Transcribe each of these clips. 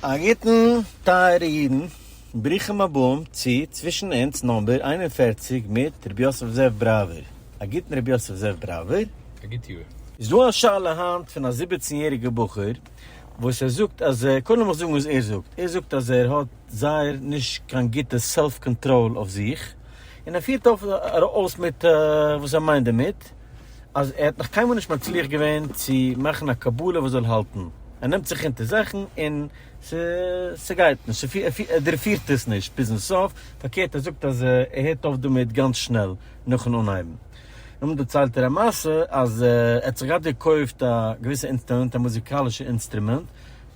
א גוטן טייערע אידן, ברוכים הבאים צו צווישן אונז נאמבער איין און פֿערציק מיט רבי יוסף זאב בראווער, א גוטן רבי יוסף זאב בראווער. א גוט יאר. איז דא א שאלה היינט פון א זיבעצן יעריגע בחור וואס ער זאגט אז ער, קודם לאמיך זאגן וואס ער זאגט, ער זאגט אז ער האט זייער נישט קיין גוטע סעלף קאנטראל אויף זיך, און ער פירט אויס מיט וואס ער מיינט דערמיט, אז ער האט נאך קיינמאל נישט מצליח געווען צו מאכן א קבלה וואס זאל האלטן, ער נעמט זיך אונטער זאכן און ס'גייט נישט, ער דורכפירט עס נישט ביזן סוף, פארקערט ער זאגט אז ער הערט אויף דערמיט גאנץ שנעל נאכן אנהייבן. נאכדעם דערציילט ער א מעשה אז ער האט זיך געהאט געקויפט א געוויסע אינסטרומענט, א מוזיקאלישע אינסטרומענט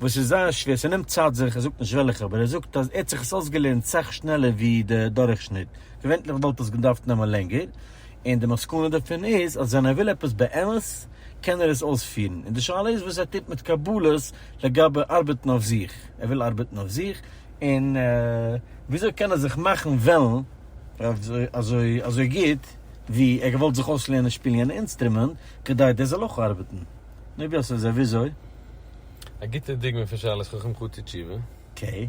וואס איז זייער שווער, ס'נעמט צייט זיך, ער זאגט נישט וועלכע, אבער ער זאגט אז ער האט זיך עס אויסגעלערנט סאך שנעלער ווי דער דורכשניט, געווענליך וואלט עס געדארפט נעמען לענגער, און די מסקנא דערפון איז אז ווען ער וויל עפעס באמת קען ער עס אויספירן, און די שאלה איז וואס ער טוט מיט קבלות לגבי ארבעטן אויף זיך, ער וויל ארבעטן אויף זיך, און וויאזוי קען ער זיך מאכן וועלן אזוי אזוי גוט ווי ער געוואלט זיך אויסלערנען שפילן יענע אינסטרומענט כדי דאס זאל אויך ארבעטן, נו ווי אזוי ווי אזוי? א גוטע דוגמא פון שאלת חכם חוטא תשובה. אקעי.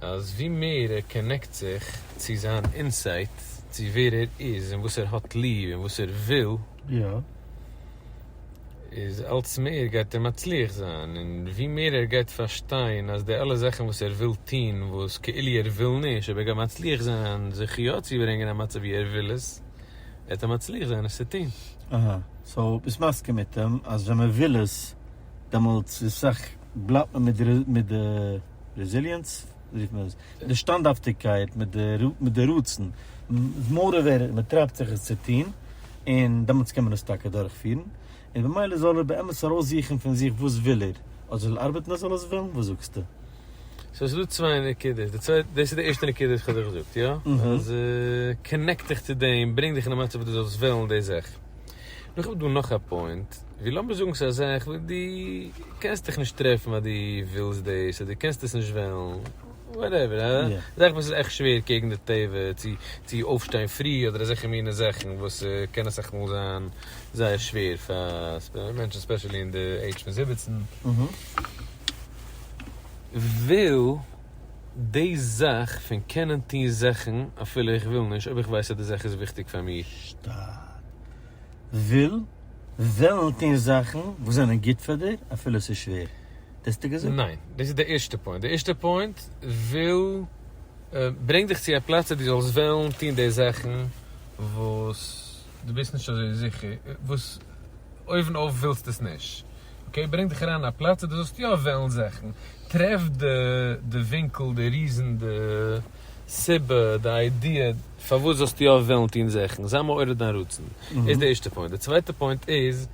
אז ווי מער ער קאנעקט זיך צו זיין אינסייט צו ווער ער איז און וואס ער האט ליב און וואס ער וויל, איז אלץ מער גייט ער מצליח זיין, און ווי מער ער גייט פארשטיין אז די אלע זאכן וואס ער וויל טון וואס כאילו ער וויל נישט אבער ער גייט מצליח זיין זיך יא צו ברענגען אין א מצב ווי ער וויל עס, גייט ער מצליח זיין עס צו טון. אהא, סאו ביסט מסכים מיט אים אז ווען מען וויל עס דעמאלטס איז סך בלייבט מען מיט די. רעזיליענס רופט מען עס, די שטאנדהאפטיגקייט מיט די רצון, מורא ווער מען טרייבט זיך עס צו טון, און דעמאלטס קען מען עס טאקע דורכפירן, און במילא זאל ער באמת ארויסזוכן פון זיך וואס וויל ער, אויב זאל ער ארבעטן אויב זאל ער עס וועלן, וואס זאגסטו? סאו ס'איז דא צוויי נקודות, די צווייטע, דאס איז די ערשטע נקודה וואס כ'האב דיר געזאגט, יא? אז קאנעקט דיך צו דעם, ברענג דיך אין א מצב וואס דו זאלסט וועלן די זאך. נאר כ'האב דא נאך א פוינט, ווי לאמיר זאגן ס'איז א זאך וואס דו קענסט דיך נישט טרעפן אז דו ווילסט דאס, אדער דו קענסט עס נישט וועלן, וואטעווער, א זאך וואס איז עכט שווער קעגן די טבע, צו צו אויפשטיין פרי אדער אזעלכע מיני זאכן וואס קען אסאך מאל זיין זייער שווער פאר מענטשן ספעשעלי אין די עידזש פון זיבעצן, וויל. די זאך פון קענען טון זאכן אפילו איך וויל נישט, אויב איך ווייס אז די זאך איז וויכטיג פאר מיר. שטארק. וויל, וועלן טון זאכן וואס זענען גוט פאר דיר אפילו עס איז שווער. דאס האסטו געזאגט? ניין. דאס איז די ערשטע פוינט. די ערשטע פוינט, וויל, ברענגט דיך צו א פלאץ אז דו זאלסט וועלן טון די זאכן וואס. דו ביסט נישט אזוי זיכער וואס אויבן אויף ווילסט עס נישט, אקעי ברענג דיך אריין אין א פלאץ אז דו זאלסט יא וועלן זעכן, טרעף די ווינקל, די ריזן, די סיבה, די איידיע פארוואס זאלסטו יא וועלן טון זעכן, זיי מעורר דיין רצון, איז די ערשטע פוינט, די צווייטע פוינט איז,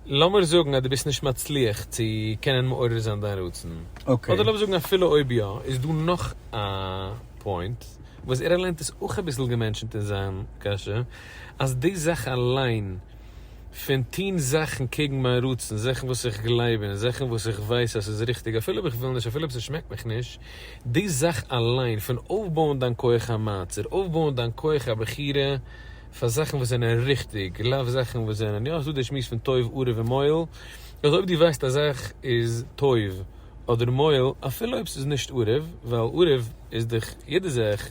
לאמיר זאגן אז דו ביסט נישט מצליח צו קענען מעורר זיין דיין רצון, אדער לאמיר זאגן אפילו אויב יא, איז דא נאך א פוינט, וואס ער אליינס איז אויך אביסל געמענטשנט אין זיין קשיא, אז די זאך אליין פון טון זאכן קעגן מיין רצון, זאכן וואס איך גלייב אין, זאכן וואס איך ווייס אז ס'איז ריכטיג אפילו אויב איך וויל נישט, אפילו אויב ס'שמעקט מיך נישט, די זאך אליין פון אויפבויען דיין כח המעצר, אויפבויען דיין כח הבחירה פאר זאכן וואס זענען ריכטיג, לאו זאכן וואס זענען, יא ס'איז דא די שמועס פון טוב ארעוו און מועיל, אז אויב דו ווייסט א זאך איז טוב, אדער מוהל אפילו אויב ס'איז נישט ערוב, ווייל ערוב איז דאך יעדע זאך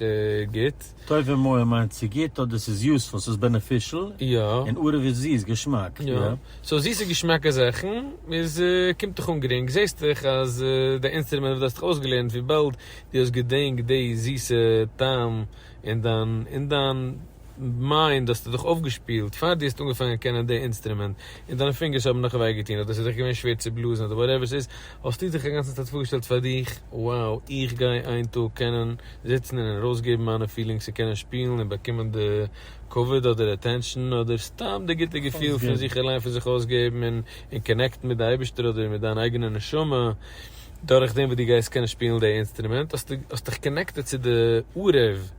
גוט. טוב און מוהל מיינט צו גוט אדער ס'איז יוזפול, ס'איז בענעפישעל, און ערוב איז זיס, געשמאק, יא. סאו זיסע געשמאקע זאכן איז קומט דיך אן גרינג, זעהסט דאך אז די אינסטרומענט וואס דו האסט דיך אויסגעלערנט וויבאלד דו האסט געדענקט די זיסע טעם אין דיין אין דיין. מיינט דו האסט דיך אויפגעשפילט פאר דו האסט אנגעפאנגען קענען די אינסטרומענט, און דיינע פינגערס האבן נאך וויי געטון, אדער עס איז דיך געווען שווער צו בלאזן, אדער וואטעווער עס איז, האסטו דיך אגאנצן צייט פארגעשטעלט פאר דיך, wow, איך גיי איין טאג קענען זיצן און ארויסגעבן מיינע פילינגס און קענען שפילן און באקומען די כבוד אדער אטענשאן אדער סתם די גוטע געפיל פון זיך אליין פון זיך אויסגעבן און און קאנעקטן מיט די אייבערשטער אדער מיט דיין אייגענע נשמה דורך דעם וואס דו גייסט קענען שפילן די אינסטרומענט, האסטו האסט דיך קאנעקטעד צו די עורב.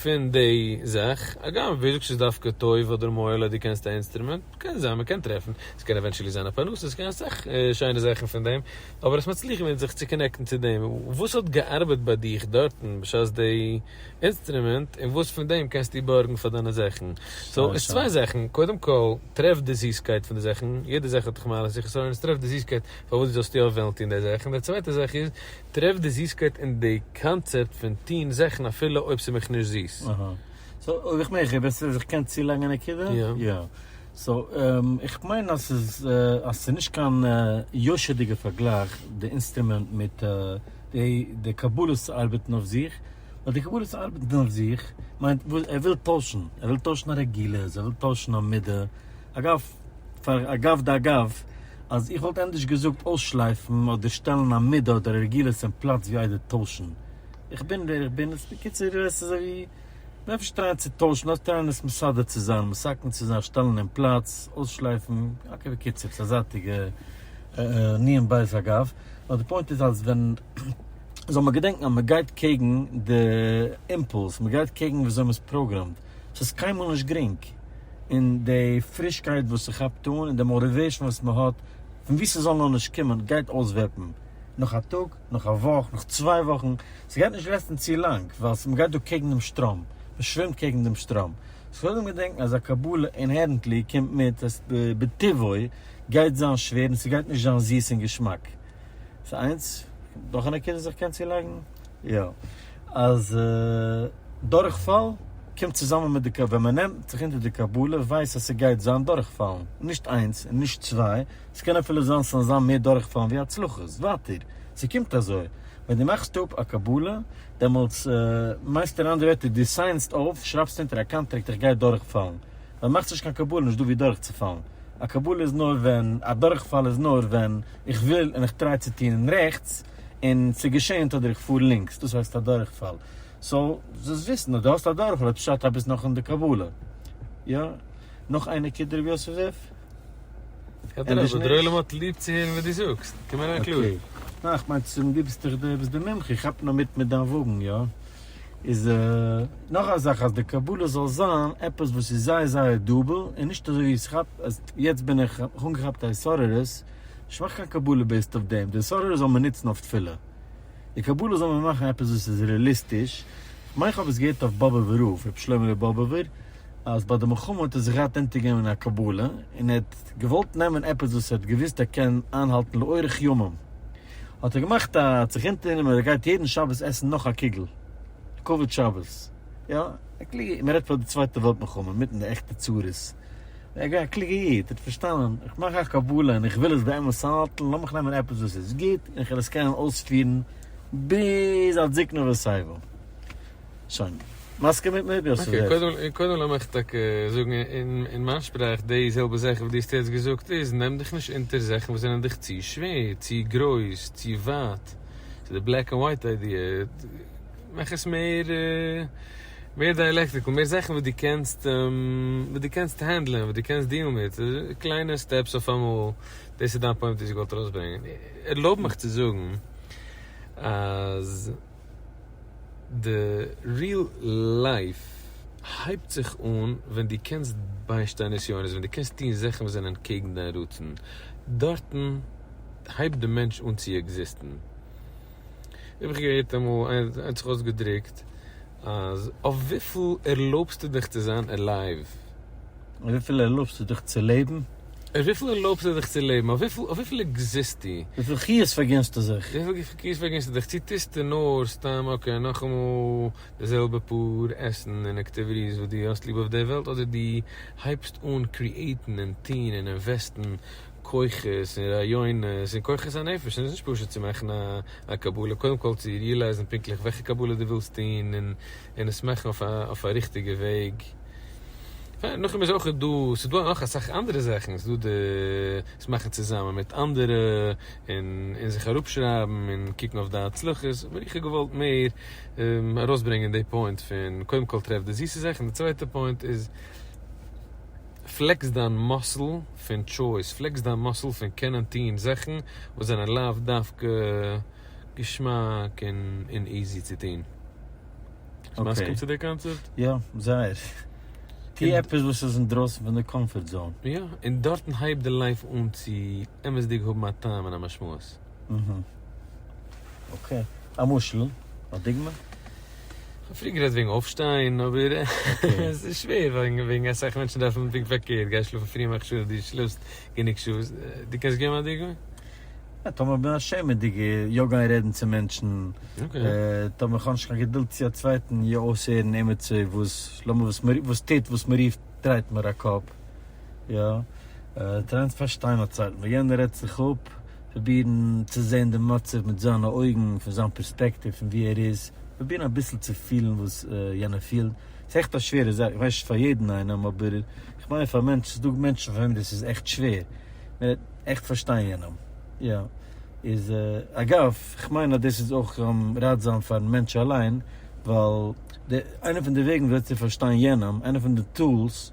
פון די זאך, הגם ווער זאגט ס'איז דווקא טוב אדער מועיל אז דו קענסט א אינסטרומענט, קען זיין מ'קען טרעפן, ס'קען עווענטשעלי זיין א פרנסה, ס'קען אסאך שיינע זאכן פון דעם, אבער עס מצליח ווען זיך צו קאנעקטן צו דעם, וואס האט געארבעט ביי דיך דארטן בשעת די אינסטרומענט, און וואס פון דעם קענסטו בארגן פאר דיינע זאכן, סאו עס צוויי זאכן, קודם כל טרעף די זיסקייט פון די זאכן, יעדע זאך האט איך מעלות און חסרונות, טרעף די זיסקייט פארוואס דו זאלסטו יא וועלן טון די זאך, און די צווייטע זאך איז, טרעף די זיסקייט אין די קאנצעפט פון טוהן זאכן אפילו אויב ס'איז מיך נישט זיס. אהא. סאו אויב איך מעג איך בעסער אז איך קען צולייגן א נקודה? יא. סאו איך מיין אז ס'איז אז ס'איז נישט קיין יושר'דיגע פארגלייך די אינסטרומענט מיט די די קבלות ארבעטן אויף זיך, ווייל די קבלות ארבעטן אויף זיך מיינט ער וויל טוישן, ער וויל טוישן א רגילות, ער וויל טוישן א מידה, אגב, פאר אגב דאגב, אז איך וואלט ענדערש געזאגט אויסשלייפן אדער שטעלן א מידה אדער א רגילות אין פלאץ ווי איידער טוישן. איך בין ווער איך בין, איז בקיצור עס איז אזויווי נפש טרייען צו טוישן אדער טרייען עס מסדר צו זיין, מסכם צו זיין, שטעלן אין פלאץ, אויסשלייפן, אקעי בקיצור ס'איז א זייטיגע ענין בית אגב, נאר די פוינט איז אז ווען, זאל מען געדענקן אז מ'גייט קעגן די אימפולס, מ'גייט קעגן וויאזוי מ'איז פראגרעמד. ס'איז קיינמאל נישט גרינג, און די פרישקייט וואס ס'כאפט אן, און די מאוריוועישן וואס מ'האט, פון וואו ס'זאל נאר נישט קומען, גייט אויסוועפן נאך א טאג, נאך א וואך, נאך צוויי וואכן, ס'גייט נישט לעסטן צו לאנג, ווייל מ'גייט דא קעגן דעם שטראם, מ'שווימט קעגן דעם שטראם. ס'איז קודם געדענקן אז א קבלה אינהערענטלי קומט מיט, אז בטבעו גייט זיין שווער און ס'גייט נישט זיין זיס און געשמאק. ס'איז איינס, נאך א נקודה וואס איך קען צולייגן. יא, אז דורכפאל קומט צוזאמען מיט די, ווען מען נעמט זיך אונטער די קבלה ווייסט אז ס'גייט זיין דורכפאלן, נישט איינס און נישט צוויי, ס'קען אפילו זיין ס'זאלן זיין מער דורכפאלן ווי הצלחות, ווייטער, ס'קומט אזוי, ווען דו מאכסט אפ א קבלה, דעמאלטס מיינסטו אין אנדערע ווערטער דו סיינדסט אויף, שרייבסט אונטער א קאנטראקט איך גיי דורכפאלן, ווען מאכסט נישט קיין קבלה נישטא ווי דורכצופאלן, א קבלה איז נאר ווען, א דורכפאל איז נאר ווען איך וויל און איך טריי צו טון רעכטס, און ס'געשעהן תדיר איך פאר לינקס דאס הייסט א דורכפאל סאו זאלסט וויסן אז דו האסט א דורכפאל איז פשט אז ביסט נאך אין די קבלה יא נאך איינער קען דער רבי יוסף זאב? אדרבה דער עולם האט ליב צו הערן וואס דו זאגסט קום אריין קלאר. אקעי ניין איך מיין צום דו ביסט דאך דער ביסט די מומחה איך כאפ נאר מיט מיט דיין וואגן יא איז נאך א זאך אז די קבלה זאל זיין עפעס וואס איז זייער זייער דאבל און נישט אזוי ווי ס'כאפט אז יעצט בין איך איך האב אנגעכאפט א התעוררות. נישט מאכן קיין קבלה בעיסד אויף דעם, די סארער זאל מען נוצן אויף תפילה, די קבלה זאל מען מאכן עפעס וואס איז רעליסטיש, כ'מיין כ'האב עס געהערט אויף באבעווער רב, ר' שלמה לב באבעווער, אז ביי די מלחמה האט ער זיך געהאט אונטערגעבן אין א קבלה, און ער האט געוואלט נעמען עפעס וואס ער האט געוואוסט ער קען איינהאלטן לאורך ימים, האט ער געמאכט א, ער האט זיך אונטערגענומען אז ער גייט יעדן שבת עסן נאך א קוגל, כבוד שבת, יא, א קלוגע, מ'רעדט פאר די צווייטע וועלט מלחמה, מיטן די עכטע צרות. א קלוגע איד האט פארשטאנען, איך מאך א קבלה און איך וויל עס באמת האלטן, לאמיך נעמען עפעס וואס איז גוט און איך וועל עס קענען אויספירן ביז עד זקנה ושיבה. שוין. מסכים מיט מיר? אקעי, קודם קודם לאמיך טאקע זאגן אין מיין שפראך די זעלבע זאך וואס דו האסט יעצט געזאגט איז, נעם דיך נישט אונטער זאכן וואס זענען דיך צו שווער, צו גרויס, צו ווייט, ס'איז די בלעק ענד ווייט איידיע, מאך עס מער. מער די עלעקטריקל, מער זאכן וואס דו קענסט, וואס דו קענסט הענדלען, וואס דו קענסט דילן מיט, קליינע סטעפס אויפאמאל, דאס איז דיין פוינט וואס איך וואלט ארויסברענגען. ערלויב מיך צו זאגן אז די ריעל לייף הייבט זיך אן ווען דו קענסט ביישטיין נסיונות, ווען דו קענסט טון זאכן וואס זענען קעגן דיין רצון, דארטן הייבט די מענטש אן צו עקזיסטן. האב איך געהערט אמאל איינער האט זיך אויסגעדרוקט אז אויף וויפיל ערלויבסטו דיך צו זיין עלייוו? אויף וויפיל ערלויבסטו דיך צו לעבן? אויף וויפיל ערלויבסטו דיך צו לעבן? אויף וויפיל עקזיסטו? וויפיל חיות פארגינסטו זיך? וויפיל חיות פארגינסטו זיך? צו טוסטו נאר סתם אקעי נאכאמאל די זעלבע פאר עסן און עקטיוויטיס וואס דו האסט ליב אויף די וועלט אדער דו הייבסט אן קריעיטן און טון און אינוועסטן כוחות און רעיונות און כוחות הנפש און עס איז נישט פשוט צו מאכן א קבלה קודם כל צו ריעלייזן פונקטליך וועלכע קבלה דו ווילסט טון און עס מאכן אויף א ריכטיגע וועג נאכדעם איז אויך דא ס'איז דא נאך אסאך אנדערע זאכן ס'איז דא די עס מאכן צוזאמען מיט אנדערע און זיך אראפשרייבן און קוקן אויף די הצלחות אבער איך האב געוואלט מער ארויסברענגען די פוינט פון קודם כל טרעף די זיסע זאכן די צווייטע פוינט איז פלעקס דיין מאסל פון טשויס, פלעקס דיין מאסל פון קענען טוהן זאכן וואס זענען לאו דווקא געשמאק און איזי צו טוהן. ביסט מסכים צו די קאנצעפט? יא, זייער. טוה עפעס וואס איז אינדרויסן פון די קאמפארט זאון. יא, און דארטן הייבט די לייף אן צו אמת'דיג האבן א טעם און א משמעות. אקעי. א משל? א דוגמא? כ'האב פריער גערעדט וועגן אויפשטיין, אבער עס איז שווער וועגן אסאך מענטשן דארפן פונקט פארקערט, גיי שלאפן פרי מאך שול דו שלאפסט גענוג שעות, דו קענסט געבן א דוגמא? יא, טאמער כ'בין א שעמעדיגער, יא גיין רעדן צו מענטשן, טאמער כ'האב נישט קיין געדולד צו א צווייטן, יא אויסהערן עמיצער וואס לאמיר וואס מיר וואס טוט וואס מען רופט דרייט מיר א קאפ, יא טרייען צו פארשטיין א צווייטן, ווען יענער רעדט זיך אפ. פרובירן צו זען די מצב מיט זיינע אויגן, פון זיין פערספעקטיוו פון ווי ער איז, פרובירן אביסל צו פילן וואס יענער פילט, ס'איז עכט א שווערע זאך, איך ווייס נישט פאר יעדן איינעם, אבער איך מיין פאר מענטשן, ס'איז דא מענטשן פאר וועם דאס איז עכט שווער, עכט פארשטיין יענעם, יא, איז אגב, איך מיין אז דאס איז אויך ראטזאם פארן מענטש אליין, ווייל די, איינע פון די וועגן וויאזוי צו פארשטיין יענעם, איינע פון די טולס,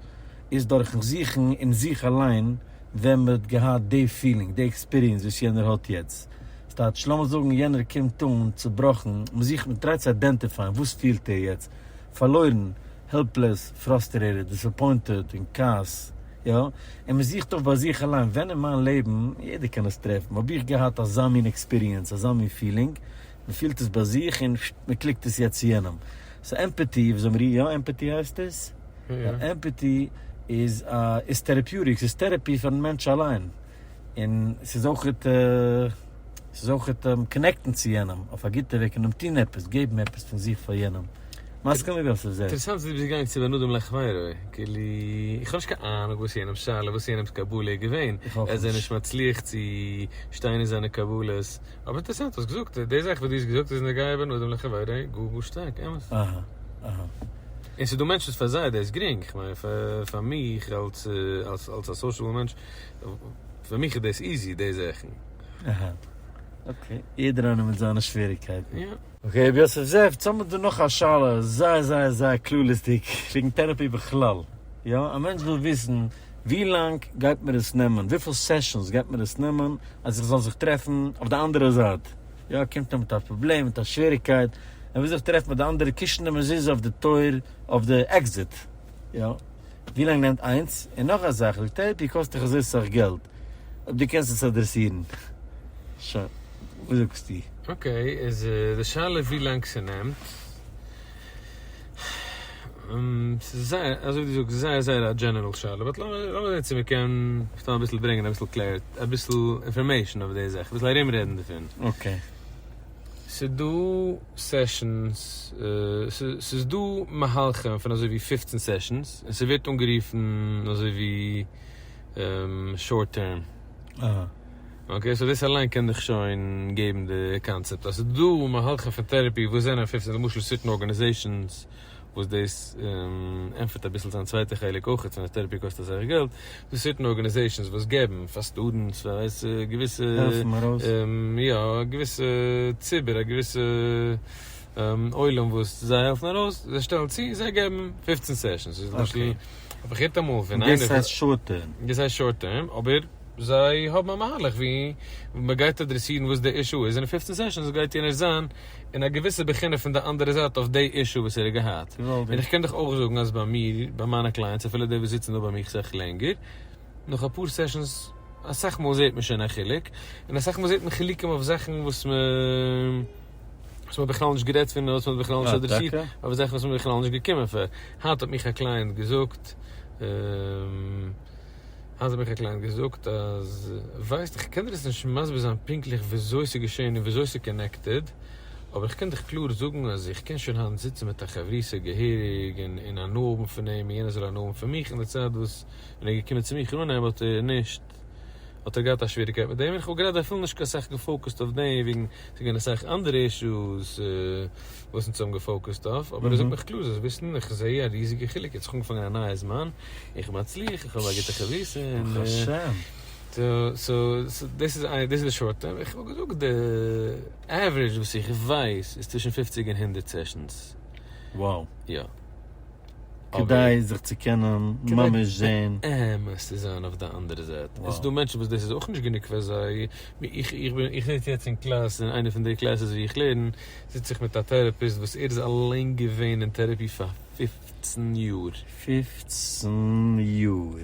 איז דורכן זוכן אין זיך אליין ווען מען האט געהאט די פילינג, די עקספיריענס וואס יענער האט יעצט. ס'טייטש, לאמיר זאגן יענער קומט אן צובראכן, מען זוכט, מען טרייט צו איידענטיפייען וואס פילט ער יעצט, פארלוירן, העלפלעס, פראסטערעטעד, דיסעפוינטעד, אין כעס, יא? און מען זוכט אויף ביי זיך אליין, ווען אין מיין לעבן, יעדער קען עס טרעפן, האב איך געהאט אזא מין עקספיריענס, אזא מין פילינג? מען פילט עס ביי זיך און מען קליקט עס יעצט צו יענעם. סאו עמפעטי, ווי זאגן מיר איר, יא עמפעטי הייסט עס? יא עמפעטי איז א איז טערעפיוטיק, ס'איז טערעפי פארן מענטש אליין, און ס'איז אויכעט ס'איז אויכעט קאנעקטן צו יענעם אויף א גוטע וועג און אים טון עפעס, געבן עפעס פון זיך פאר יענעם. מסכים לגבי ס'איז דער. אינטערעסאנט אז דו ביסט געגאנגען צו בין אדם לחבירו, כאילו איך האב נישט קיין אהנונג וואס יענעמ'ס שאלה, וואס יענעמ'ס קבלה איז געווען, ער איז נישט מצליח צו שטיין אין זיינע קבלות, אבער אינטערסאנט האסט געזאגט די זאך וואס דו האסט געזאגט איז נוגע בין אדם לחבירו גאר גאר שטארק אמת. אהה אהה. און ס'דא מענטשן וואס פאר זיי איז דאס גרינג, איך מיין פאר מיך אלס אלס א סאושעבל מענטש, פאר מיך איז דאס איזי די זאכן. אהה אקעי, יעדער איינער מיט זיינע שוועריגקייטן. יא. אקעי רבי יוסף זאב, יעצט האמיר דא נאך א שאלה, זייער זייער זייער כללית'דיג, וועגן טערעפי בכלל, יא? א מענטש וויל וויסן. ווי לאנג גייט מיר עס נעמען, וויפיל סעשאנס גייט מיר עס נעמען אז איך זאל זיך טרעפן אויף די אנדערע זייט, יא קומט ער מיט א פראבלעם, מיט א שוועריגקייט, ער וויל זיך טרעפן מיט די אנדערע קישן די מזוזה אויף די טויער אויף די עקזיט, יא ווי לאנג נעמט איינס, און נאך א זאך די טערעפי קאסט דיך אזוי סאך געלט, אויב די קענסט עס אדרעסירן שוין, וואס זאגסטו? אקעי איז די שאלה ווי לאנג ס'נעמט. ס'איז זייער, אזוי ווי דו זאגסט, זייער זייער א דזשענערעל שאלה, באט לאמיר זעהן צו מען קען סתם אביסל ברענגען אביסל קלער, אביסל אינפארמעישן אויף די זאך, אביסל ארום רעדן דערפון. אקעי. ס'דא סעשאנס, ס'איז דא מהלכים פון אזוי ווי פופצן סעשאנס, און ס'ווערט אנגערופן אזוי ווי. שארט טערם. אקעי, סאו דאס אליין קען דיך שוין געבן די קאנצעפט אז ס'איז דא מהלכים פון טערעפי וואס זענען פופצן, למשל סירטן ארגאניזעישאנס וואס דאס ענטפערט אביסל זיין צווייטע חלק אויך חוץ פון טערעפי קאסט אסאך געלט, איז דא סירטן ארגאניזעישאנס וואס געבן פאר סטודענטס פאר ווייסע געוויסע, העלפן ארויס. יא, א געוויסע ציבור א געוויסע עולם וואס זיי העלפן ארויס, זיי שטעלן צו, זיי געבן פופצן סעשאנס, למשל האב איך געהערט אמאל פון איינער. דאס הייסט שארט טערם. דאס הייסט שארט טערם, אבער זיי האבן א מהלך ווי מען גייט אדרעסירן וואס די אישו איז, און אין פופצן סעשאנס גייט יענער זיין אין א געוויסע בחינה פון די אנדערע זייט אויף די אישו וואס ער האט געהאט. און איך קען דיך אויך זאגן אז ביי מיר, ביי מיינע קלייענטס, אפילו די וואס זיצן דא ביי מיך סך לענגער, נאך אפאר סעשאנס, אסאך מאל זעט מען שוין א חילוק, און אסאך מאל זעט מען חילוקים אויף זאכן וואס מען. וואס מ'האט בכלל נישט גערעדט פון און וואס מ'האט בכלל נישט אדרעסירט, אדער זאכן וואס מ'איז בכלל נישט געקומען פאר. היינט האט מיך א קלייענט געזאגט, היינט האט מיך א קלייענט געזאגט אז, ווייסט, איך קען דיר עס נישט מסביר זיין פונקטליך וויאזוי ס'איז געשען און וויאזוי ס'איז קאנעקטעד, אבער איך קען דיך קלאר זאגן אז איך קען שוין היינט זיצן מיט א חברותא געהעריג און הנאה האבן פון אים און יענער זאל הנאה האבן פון מיך, און די צייט וואס ווען ער איז געקומען צו מיך אננעמען האט ער נישט. געהאט, האט ער געהאט א שוועריקייט מיט דעם, און כ'האב גראדע אפילו נישט קיין סאך געפאוקעסט אויף דעם, וועגן ס'איז געווען אסאך אנדערע אישוס וואס אונז האבן געפאוקעסט אויף, אבער ער זאגט מיך קלאר, זאלסט וויסן, איך זע א ריזיגע חילוק, יעצט איך האב אנגעפאנגען א נייע זמן, איך מצליח, איך האב א גוטע חבורה, און סאו דאס איז די שארט טערם, איך וואלט געזאגט די עווערעדזש וואס איך ווייס איז צווישן פופציג און הונדערט סעשאנס. וואו. יא. כדי זיך צו קענען ממש זעהן. באמת צו זיין אויף די אנדערע זייט. עס איז דא מענטשן וואס דאס איז אויך נישט גענוג פאר זיי. איך זיץ יעצט אין קלאס, אין איינע פון די קלעסעס ווי איך לערן, זיץ איך מיט א טערעפיסט וואס ער איז אליין געווען אין טערעפי פאר פֿופֿצן יאר. פֿופֿצן יאר!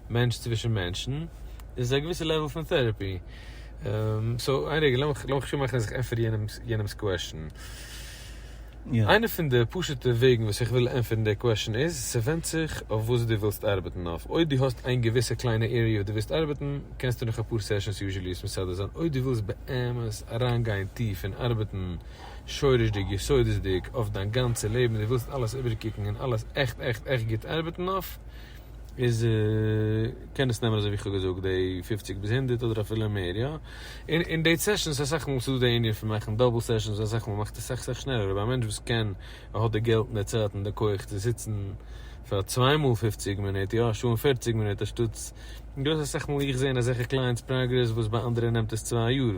מענטש צווישן מענטשן איז א געוויסע לעוועל פון טעראפי. סאו איין רגע לאמיך לאמיך שטארק מאכן אז איך ענטפער יענעמס יענעמס קוועשן. איינע פון די פשוטע וועגן וואס איך וויל ענטפערן די קוועשן איז, ס'ווענדט זיך אויף וואס דו ווילסט ארבעטן אויף. אויב דו האסט איין געוויסע קליינע עריע וואס דו ווילסט ארבעטן, קענסטו נאך אפאר סעשאנס יוזשעלי עס מסדר זיין. אויב דו ווילסט באמת אריינגיין טיף און ארבעטן שורש'דיג יסודות'דיג אויף דיין גאנצע לעבן, דו ווילסט אלעס איבערקוקן און אלעס עכט עכט עכט גוט ארבעטן אויף, איז קען עס נעמען אזוי ווי איך האב געזאגט די פופציג ביז הונדערט אדער אפילו מער יא, און און די סעשאנס איז אסאך מאל וואס איז דא די ענין פון מאכן דאבל סעשאנס אסאך מאל מאכט עס אסאך אסאך שנעלער אבער א מענטש וואס קען און האט די געלט און די צייט און די כח צו זיצן פאר צוויי מאל פופציג מינוט יא א שעה און פערציג מינוט אנשטאטס און דא איז אסאך מאל איך זעהן אזעלכע קלייענטס פראגרעס וואס ביי אנדערע נעמט עס צוויי יאר.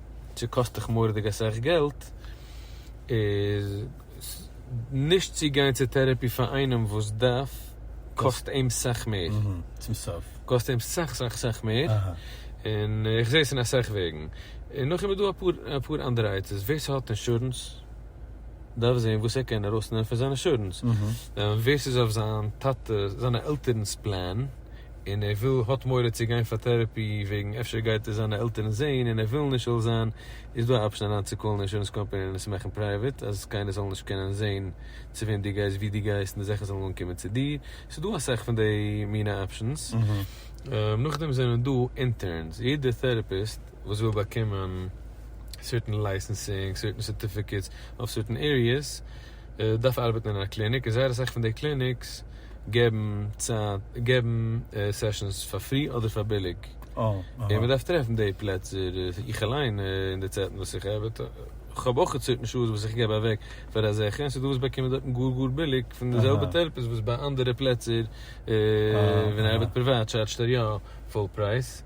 צו קאסט דיך מורא'דיג אסאך געלט, איז נישט צו גיין צו טערעפי פאר איינעם וואס דארף, קאסט אים סאך מער. צום סוף. קאסט אים סאך סאך סאך מער, און איך זעה עס אין אסאך וועגן. און נאכדעם איז דא אפאר אנדערע עצות, ווער ס'האט אינשורענס דארף זען וואס ער קען ארויסנעמען פון זיין אינשורענס, ווער ס'איז אויף זיין טאטע, זיינע עלטערנ'ס פלען, און ער וויל האט מורא צו גיין פאר טערעפי וועגן אפשר גייט ער זיינע עלטערן זעהן און ער וויל נישט עלול זיין איז דא א אפשען אריין צו קאלן אינשורענס קאמפעני און עס מאכן פרייוועט אז קיינער זאל נישט קענען זעהן צו וועם דו גייסט ווי דו גייסט און די זאכן זאלן אנקומען צו דיר ס'איז דא אסאך פון די מינע אפשענס נאכדעם זענען דא אינטערנס יעדער טערעפיסט וואס וויל באקומען סערטען לייסענסינג סערטען סערטיפיקעטס אויף סערטען עריעס. דארף ארבעטן אין א קליניק און זייער אסאך פון די קליניקס געבן צייט געבן סעשאנס פאר פרי אדער פאר ביליג און מען דארף טרעפן די פלעצער איך אליין אין די צייטן וואס איך ארבעט איך האב אויך צויטן שעות וואס איך געב אוועק פאר אזעלכע און ס'איז דא וואס באקומען דארטן גאר גאר ביליג פון די זעלבע טערעפיסט וואס ביי אנדערע פלעצער ווען ער ארבעט פריוואט טשארדזשט ער יא פול פרייז.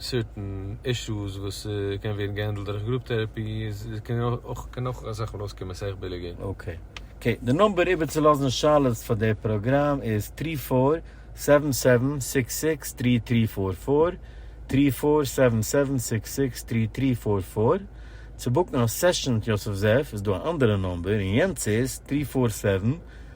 סערטען אישוס וואס קען ווערן געהענדלט דורך גרופ טערעפי איז קען אויך קען אויך אזא חלאס קומען סאך ביליגער. אקעי אקעי די נומבער איבערצולאזן שאלות פאר די פראגראם איז טרי פאר סעווען סעווען סיקס סיקס טרי טרי פאר פאר, טרי פאר סעווען סעווען סיקס סיקס טרי טרי פאר פאר, צו בוקן א סעשאן מיט יוסף זאב איז דא א אנדערע נומבער און יענץ איז טרי פאר סעווען